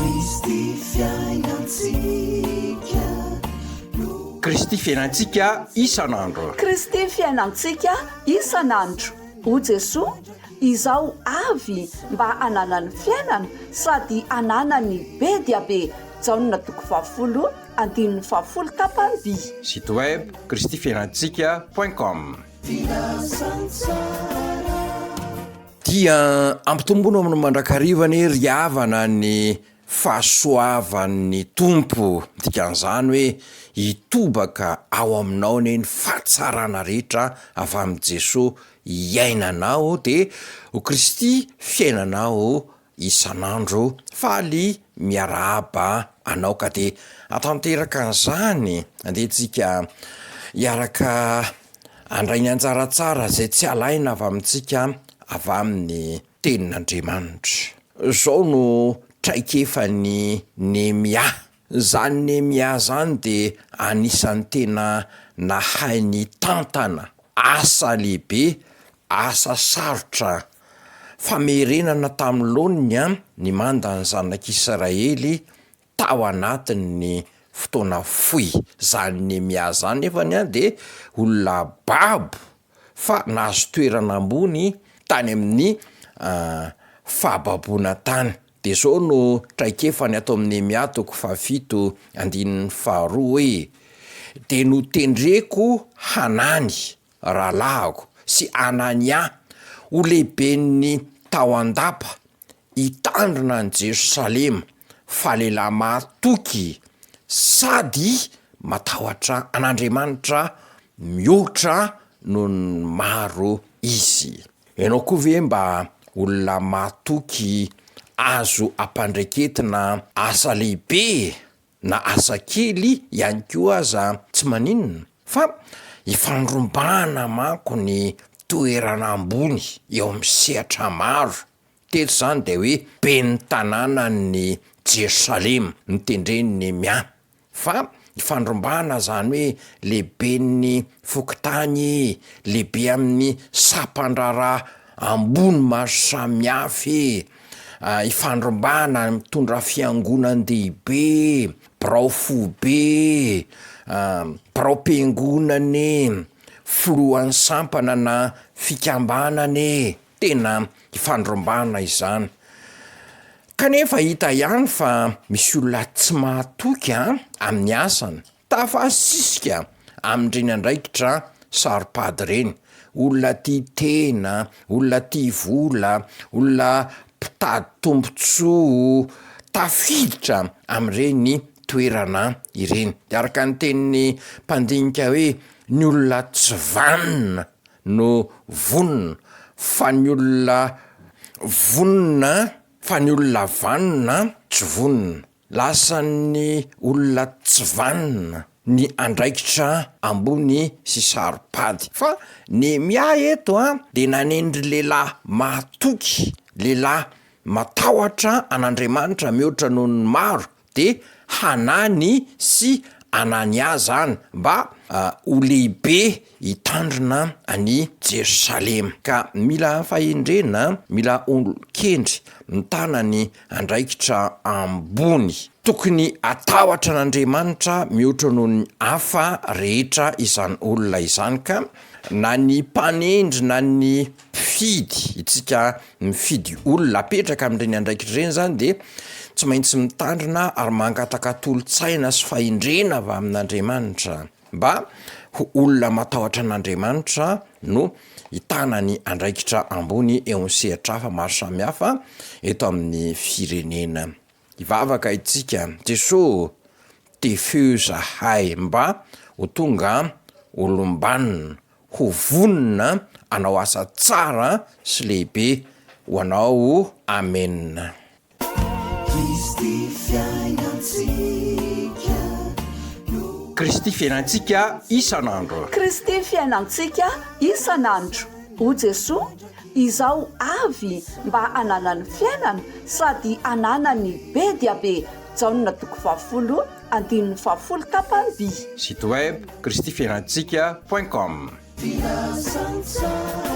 Kristy fiainantsika no. Kristy fiainantsika isan'andro. Kristy fiainantsika isan'andro. O Jesoa, izaho avy mba hananany fiainana sady hananany be dia be. Jaona toko fahafolo andininy fahafolo tapany-by. Site web, kristyfiainantsika point com. Filazantsara. Dia ampitombono amin'ny mandrakariva anie ry havana ny fahasoavan'ny Tompo, dikan'izany hoe hitobaka ao aminao anie ny fahatsarana rehetra avy amin'i Jesoa iainanao dia ho Kristy fiainanao isan'andro faly miarahaba anao ka dia atanteraka an'izany dia tsika hiaraka handray ny anjara tsara izay tsy alaina avy amintsika avy amin'ny tenin'Andriamanitra. Izao no traikefan'i Nehemia, izany Nehemia izany dia anisan'ny tena nahay nitantana asa lehibe Asa sarotra an! Famerenana tamin'ny laoniny an, ny manda ny zanak'Israely tao anatin'ny fotoana fohy. Zany Nehemia zany nefany an de olona babo fa nahazo toerana ambony tany amin'ny fahababoana tany. De zao no traikefany ato amin'ny Nehemia toko fahafito andininy faharoa hoe, de notendreko hanany rahalahiko sy Anania, ho lehiben'ny tao an-dapa, hitandrina an'i Jerosalema, fa lehilahy mahatoky sady matahotra an'Andriamanitra mihoatra noho ny maro izy. Ianao koa ve mba olona mahatoky azo ampandraiketina asa lehibe na asa kely ihany koa aza tsy maninona fa ifandrombahana manko ny toerana ambony eo amin'ny sehatra maro, teto izany dia hoe ben'ny tanànan'ny Jerosalema no tendren'i Nehemia fa ifandrombahana izany hoe lehiben'ny fokontany, lehibe amin'ny sampandraharaha ambony maro samihafa e! ifandrombahana ary mitondra fiangonan-dehibe, birao foibe, biraom-piangonana e, filohan'ny sampana na fikambanana e, tena ifandrombahana izany. Kanefa hita ihany fa misy olona tsy mahatoky a amin'ny asany. Tafasisika amin'ireny andraikitra saro-pady ireny, olona tia tena, olona tia vola, olona mpitady tombontsoa, tafiditra amin'ireny toerana ireny. Dia araka ny tenin'ny mpandinika hoe ny olona tsy vanona no vonona fa ny olona vonona fa ny olona vanona tsy vonona. Lasan'ny olona tsy vanona ny andraikitra ambony sy saro-pady. Fa Nehemia eto dia nanendry lehilahy mahatoky, lehilahy matahotra an'Andriamanitra mihoatra noho ny maro, dia Hanany sy Anania izany, mba ho lehibe hitandrina an'i Jerosalema. Ka mila fahendrena, mila olon-kendry mitana ny andraikitra ambony. Tokony hatahotra an'Andriamanitra mihoatra noho ny hafa rehetra izany olona izany ka, na ny mpanendry na ny mpifidy, isika mifidy olona hapetraka amin'ireny andraikitra ireny izany dia tsy maintsy mitandrina ary mangataka tolo-tsaina sy fahendrena avy amin'Andriamanitra. Mba ho olona matahotra an'Andriamanitra no hitana ny andraikitra ambony eo amin'ny sehatra hafa maro samihafa eto amin'ny firenena. Hivavaka itsika, Jesoa ô, tefiho zahay mba ho tonga olom-banona, ho vonona hanao asa tsara sy lehibe ho Anao. Amena. Kristy fiainantsika no. Kristy fiainantsika isan'andro. Kristy fiainantsika isan'andro. O Jesoa, izaho avy mba hananany fiainana sady hananany be dia be Jaona toko fahafolo andininy fahafolo tapamby. Site web, Kristy fiainantsika point com. Filazantsara.